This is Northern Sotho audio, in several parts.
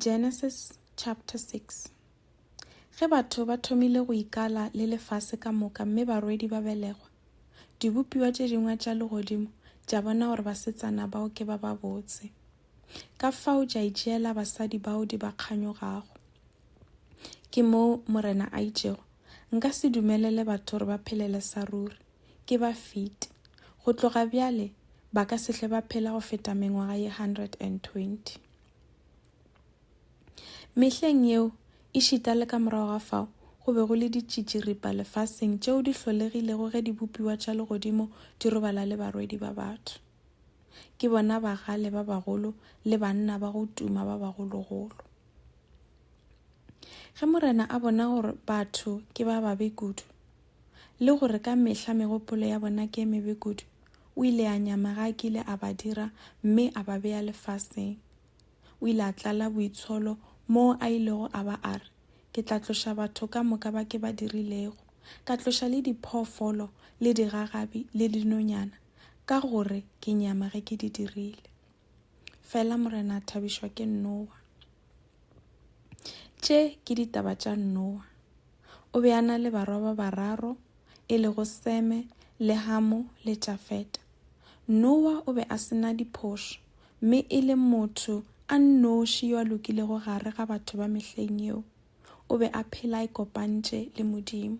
Genesis chapter 6 Ge batho ba thomile go ikala le lefase ka moka mme barwedi ba belegwa, dibopiwa tše dingwe tša legodimo tša bona gore basetsana bao ke ba babotse. Ka fao tša itšeela basadi bao di ba kganyogago. Ke moo Morena a itšego, Nka se dumelele batho gore ba phelele sa ruri. ke ba fiti. Go tloga bjale ba ka se hle ba phela go feta mengwaga ye 120. Mehleng yeo, ešita le ka morago ga fao, go be go le ditšitširipa lefaseng tšeo di hlolegilego ge dibopiwa tša legodimo di robala le barwedi ba batho. Ke bona bagale ba bagolo le banna ba go tuma ba bagologolo. Ge Morena a bona gore batho ke ba babe kudu, le gore ka mehla megopolo ya bona ke e mebe kudu, o ile a nyama ge a kile a ba dira mme a ba bea lefaseng. O ile a tlala boitsholo moo a ilego a ba a re, Ke tla tloša batho ka moka ba ke ba dirilego, ka tloša le diphoofolo le digagabi le dinonyana, ka gore ke nyama ge ke di dirile. Fela Morena a thabišwa ke Nowa. Tše ke ditaba tša Noa. O be a na le barwa ba bararo, e lego Seme le Hamo le Jafeta. Noa o be a se na diphošo, mme e le motho a nnoši yo a lokilego gare ga batho ba mehleng yeo. O be a phela a ikopantše le Modimo.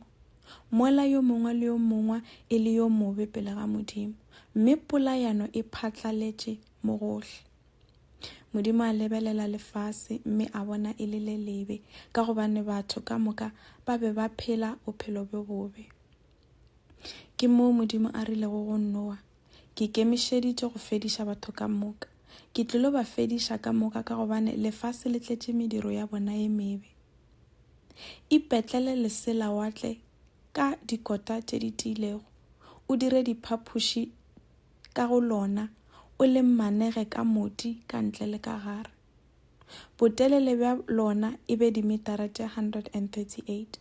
Mola yo mongwe le yo mongwe e le yo mobe pele ga Modimo, mme polayano e phatlaletše mo gohle. Modimo a lebelela lefase mme a bona e le le lebe ka gobane batho ka moka ba be ba phela bophelo bjo bobe. Ke moo Modimo a rilego go Noa, Ke kemišeditše go fediša batho ka moka. Ke tlilo ba fediša ka moka ka gobane lefase le tletše mediro ya bona ye mebe. Ipetlele lesela wa tle ka dikota tše di tiilego, o dire diphapoši ka go lona o le mmanege ka moti ka ntle le ka gare. Botelele bja lona e be dimetara tše 138,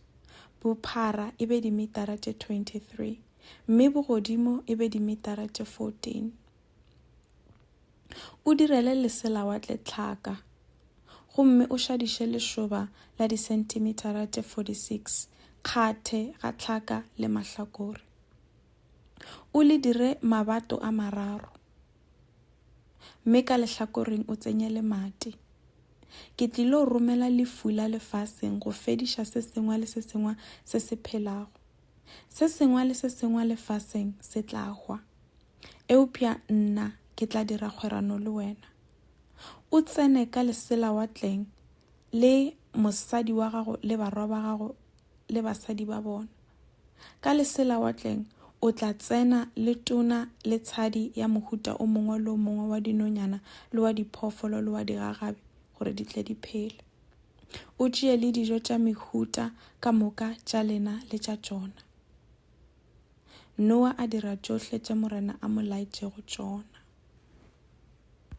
bophara e be dimetara tše 23, mme bogodimo e be dimetara tše 14. O direle leselawatle tlhaka gomme o šadiše lešoba la disentimetara tše 46 kgathe ga tlhaka le mahlakore. O le dire mabato a mararo, mme ka lehlakoreng o tsenye lemati. Ke tlilo romela lefula lefaseng go fediša se sengwe le se sengwe se se phelago. Se sengwe le se sengwe lefaseng se tla hwa. Eupša nna ke tla dira kgwerano le wena. O tsene ka leselawatleng le mosadi wa gago le barwa ba gago le basadi ba bona. Ka leselawatleng o tla tsena le tona le tshadi ya mohuta o mongwe le o mongwe wa dinonyana le wa diphoofolo le wa digagabi gore di tle di phele. O tšee le dijo tša mehuta ka moka tša lena le tša tšona. Noa a dira tšohle tše Morena a mo laetšego tšona.